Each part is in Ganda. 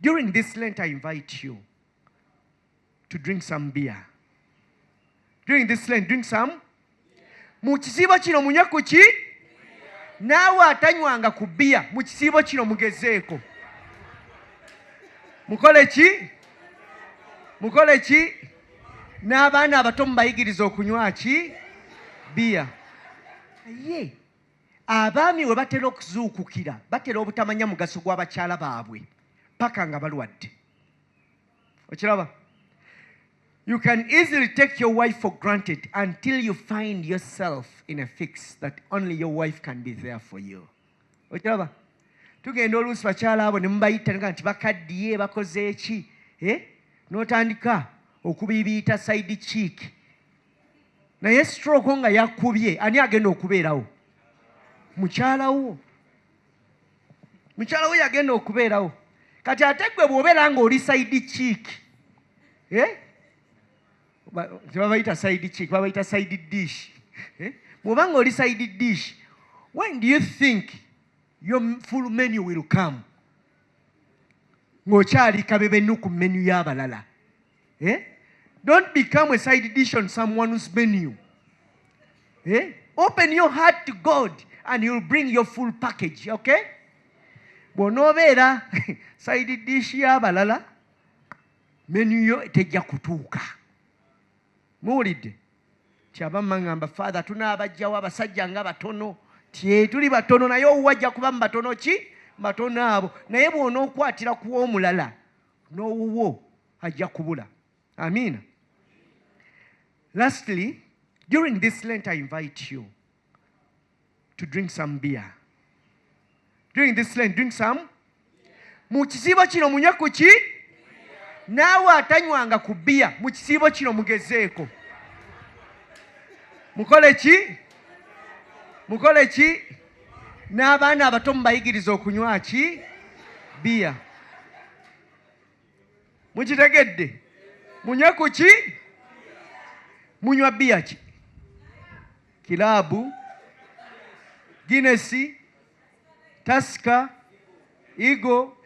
During this Lent I invite you to drink some beer. During this Lent drink some mu kisiibo kino munywe ku ki naawe atanywanga ku bbiya mu kisiibo kino mugezeeko mukole ki mukole ki n'abaana abato mubayigiriza okunywa ki bbiya ye Abaami we batera okuzuukukira batera obutamanya mugaso gwa bakyala baabwe paka nga balwadde. Okiraba? You can easily take your wife for granted until you find yourself in a fix that only your wife can be there for you. Okiraba? Tugenda oluusi bakyala abo ne mubayita nga nti bakaddiye bakoze ki? Eh? N'otandika okubibiita side cheek. naye stroke nga yakubye ani agenda okubeerawo mukyalawo mukyalawo yagenda okubeerawo kati ate gwe bwobeera nga oli saidi kiiki eh? tebabayita saidi kiiki babayita saidi dish eh? bwoba nga oli saidi dish when do you think your full menu will come ng'okyali kabebenuku menu y'abalala Eh? Don't become a side dish on someone's menu. Eh? Open your heart to God and you'll bring your full package, okay? bw'onoobeera side dish y'abalala menu yo tejja kutuuka muwulidde kyaba maŋamba fathe tunaabajjawo abasajja nga batono tye tuli batono naye owuwajja kuba mu batono ki batono abo naye bw'onookwatira ku omulala n'owuwo ajja kubula amiina lastly during this lent i invite you to drink some beer during this lent drink some mu kisiibo kino munywe ku ki naawe atanywanga ku biya mu kisiibo kino mugezeeko mukole ki mukole ki n'abaana abato mubayigiriza okunywa ki biya mukitegedde munywe ku ki munywa biya ki kilabu ginesi tasika igo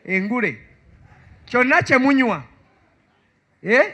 engule kyonna kyemunywa eh?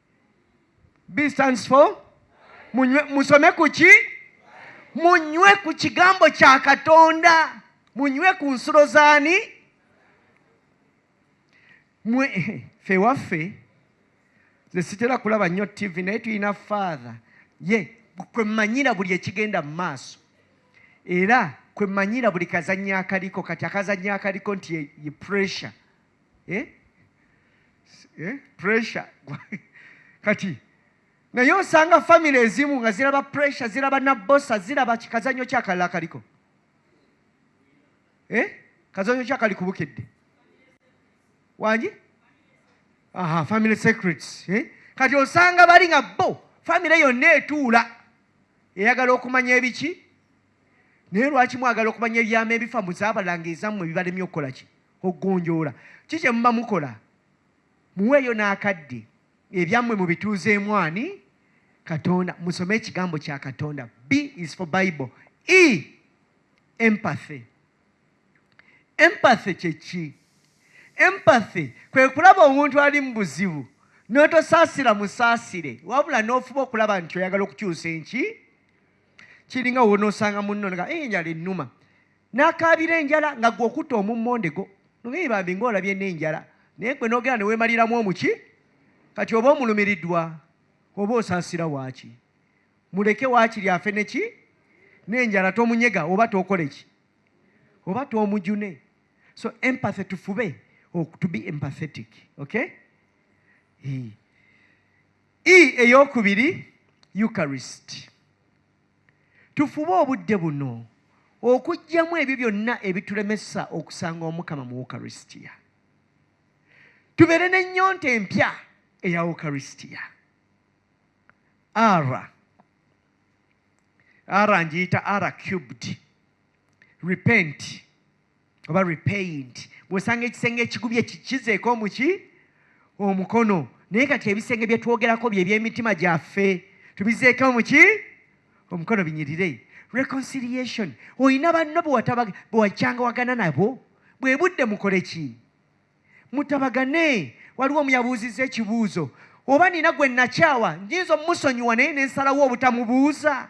B stands for munywe, musome kuki munywe ku kigambo kya Katonda, munywe ku nsulo zaani mwe fe waffe nze sitera kulaba nnyo ttivi naye tulina faatha ye kwe mmanyira buli ekigenda mu maaso era kwe mmanyira buli kazannyo akaliko kati akazannyo akaliko nti ye pressure eh? eh? pressure kati naye osanga famire ezimu nga ziraba pressure ziraba nabosa ziraba kikazanyo kyakalala kaliko eh? kazanyo kyakali kubukedde wangi aha family secrets eh? kati osanga bali nga bo famire yonna etuula eyagala okumanya ebiki naye lwaki mwagala okumanya ebyama ebifa muzabalanga ezammwe bibalemye okukola ki okugonjoola ki kye muba mukola muweeyo n'akadde ebyammwe mu bituuzeemu ani katonda musome ekigambo kya katonda b is for bible e empathy empathy kyeki empathy kwe kulaba omuntu ali mu buzibu n'otosaasira musaasire wabula n'ofuba okulaba nti oyagala okukyusa enki kiringa wonosanga munno nga enjala ennuma n'akaabira enjala nga gwe okutta omummondego nogeye bambi ng'olabye n'enjala naye gwe n'ogera ne weemaliramu omuki kati oba omulumiriddwa oba osaasira waaki muleke waakiri afe neki n'enjala tomunyega oba tookole ki oba toomujune so empathy tufube to be empathetic okay e eyokubiri eucharist Tufube obudde buno okuggyamu ebyo byonna ebitulemesa okusanga Omukama mu Ukaristia. Tubeere n'ennyonta empya eya Ukaristia. Ara ara ngiyita ara cubed repent oba repaint bwosanga ekisenge ekigubye kikizeeko omuki omukono naye kati ebisenge byetwogerako byebyemitima gyaffe tubizeeko omuki omukono binyirire reconciliation olina banno bewakyangawagana nabo bwe budde mukole ki mutabagane waliwo omuyabuuzizza ekibuuzo oba nina gwe nakyawa njinza omusonyiwa naye nensalawo obutamubuuza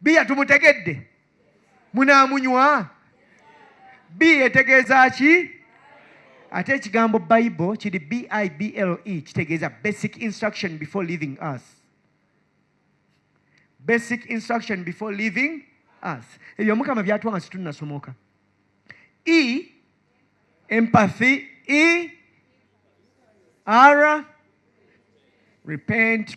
Bbiya tumutegedde? Munaamunywa? Bbiya etegeeza ki? Ate ekigambo Bible kiri B-I-B-L-E kitegeeza basic instruction before leaving us. Basic instruction before leaving us. Ebyo Mukama byatuwa nga situnnasomoka. E, empathy, E, R, repent,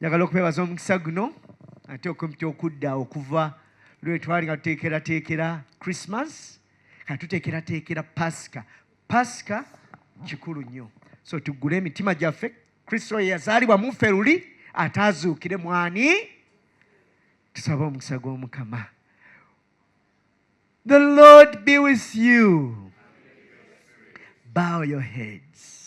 njagala okwebaza omukisa guno ate okumpita okudda okuva lwetwali nga tuteekerateekera christmas nga tuteekerateekera pasika pasika kikulu nnyo so tuggule emitima gyaffe kristo oyo yazaalibwa muffe luli ataazuukire mwani tusaba omukisa gw'omukama the lord be with you bow your heads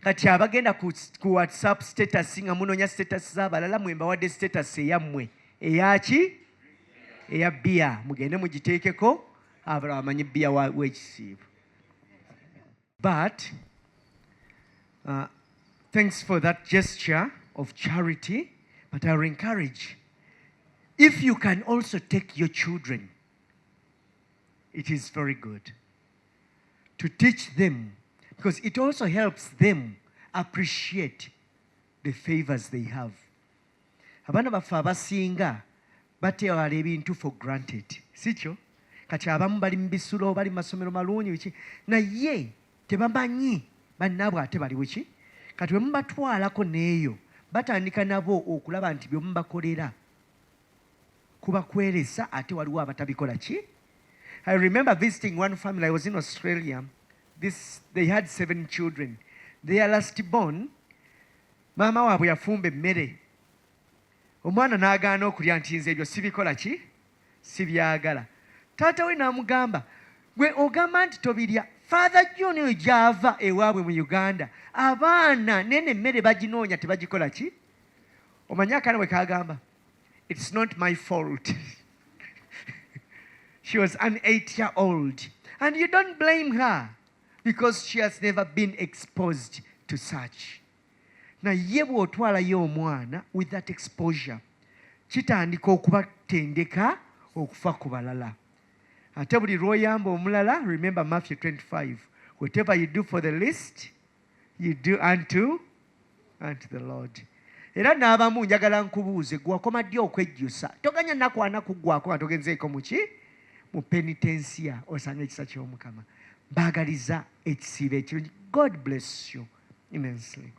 kati abagenda ku, ku whatsapp status nga munonya status zabalala mwe mbawadde status eyammwe eyaki eya bia mugende mugiteekeko abalala bamanyi bia wekisiibo but uh, thanks for that gesture of charity but i will encourage if you can also take your children it is very good to teach them because it also helps them appreciate the favors they have abaana baffe abasinga batewala ebintu for granted sikyo kati abamu bali mu bisulo bali mu masomero malungi ki naye tebamanyi bannaabwe ate bali wiki kati wemubatwalako neeyo batandika nabo okulaba nti byomubakolera kuba kweresa ate waliwo abatabikola ki i remember visiting one family i was in australia this they had seven children their last born maama waabwe yafumba emmere omwana n'agaana okulya nti nze ebyo sibikola ki sibyagala taata we n'amugamba gwe ogamba nti tobirya father john oyo gyava ewaabwe mu uganda abaana nene emmere baginoonya tebagikola ki omanyi akaana bwe kagamba It's not my fault. she was an eight year old. And you don't blame her because she has never been exposed to such. Na naye bw'otwalayo omwana with that exposure kitandika okubatendeka okufa ku balala ate buli lw'oyamba omulala remember matthew 25 whatever you do for the least you do unto, unto the lord era n'abamu njagala nkubuuze gwewakoma ddi okwejjusa toganya nakwana kuggwako nga togenzeeko muki mu penitensiya osanga ekisa ky'omukama baagaliza ekisiibo ekirungi god bless you immensely